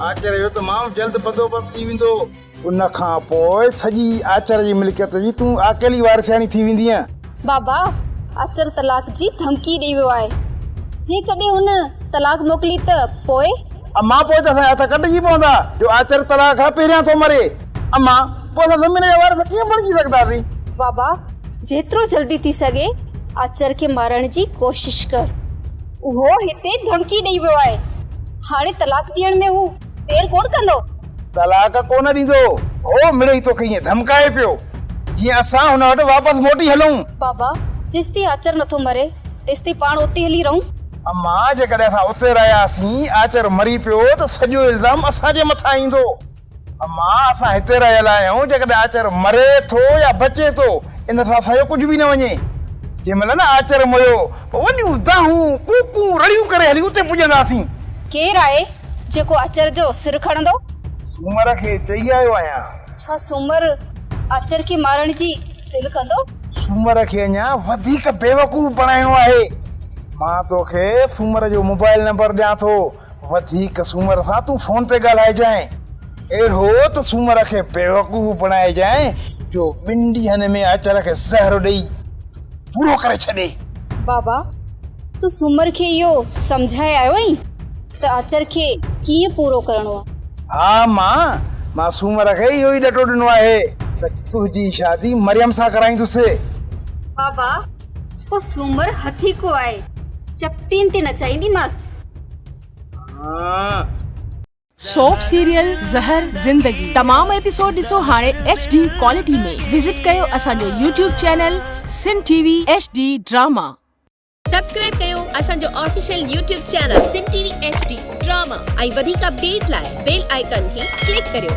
آچر جو ته ماڻهو جلد بندوبست ٿي ويندو. ان کان پوء سڄي آچر جي ملڪيت جي تون اڪيلي وارثياڻي ٿي ويندينء. بابا، آچر طلاق جي ڌمڪي ڏئي ويو آهي. جيڪڏهن هن طلاق موڪلي ته پوء؟ امان، پوء ته اسان جا هٿ ڪٽجي پوندا، جو آچر طلاق کان پهريان ٿو مري. امان، پوء اسان زمين جا وارث ڪيئن بڻجي سگهنداسين؟ بابا، جيترو جلدي ٿي سگهي آچر کي مارڻ جي ڪوشش ڪر. اهو هتي ڌمڪي ڏئي ويو آهي. هاڻي طلاق ڏيڻ ۾ هو دير ڪونه ڪندو. طلاق ڪونه ڏيندو. هو مڙئي توکي ائين ڌمڪائي پيو، جيئن اسان هن وٽ واپس موٽي هلون. بابا، جيستائين آچر نٿو مري، تيستائين پاڻ اتي هلي رهون. اما، جيڪڏهن اسان اتي رهياسين، آچر مري پيو ته سڄو الزام اسان جي مٿان ايندو. اما اسان هتي رهيل آهيون جيڪڏهن آچر مري ٿو يا بچي ٿو ان سان اسان جو ڪجهه به نه وڃي جنهن مهل نه آچر مريو پوء وڏيون دانهون ڪوڪون رڙيون ڪري هلي اتي پڄنداسين. ڪير آهي جيڪو آچر جو سر کڻندو؟ سومر کي چئي آيو آهيان. ڇا سومر آچر کي مارڻ جي دل ڪندو؟ سومر کي اڃا وڌيڪ بيوقوف بڻائڻو آهي مان توکي سومر جو موبائل نمبر ڏيان ٿو وڌيڪ سومر سان تون فون تي ڳالهائجانء، اهڙو ته سومر کي بيوقوف بڻائجانء جو ٻن ڏينهن ۾ اچر کي زهر ڏيئي پورو ڪري ڇڏي. بابا، تون سومر کي اهو سمجهائي آيو آهين ته اچر کي ڪيئن پورو ڪرڻو آهي؟ ها مان، مان سومر کي اهو ئي ڏٽو ڏنو آهي ته تنهنجي شادي مريم سان ڪرائيندس. بابا، پوء سومر هٿي ڪو آهي، چپٽين تي نچائينديمانس. سوپ سيريل زهر زندگي تمام ايپيسوڊ ڏسو هاڻي ايڇ ڊي ڪوالٽي ۾ وزٽ ڪيو اسان جو YouTube channel Sun T V H D drama. Subscribe ڪيو اسان جو official YouTube channel Sun T V H D drama ۽ وڌيڪ اپڊيٽ لاء بيل آئيڪان کي ڪلڪ ڪريو.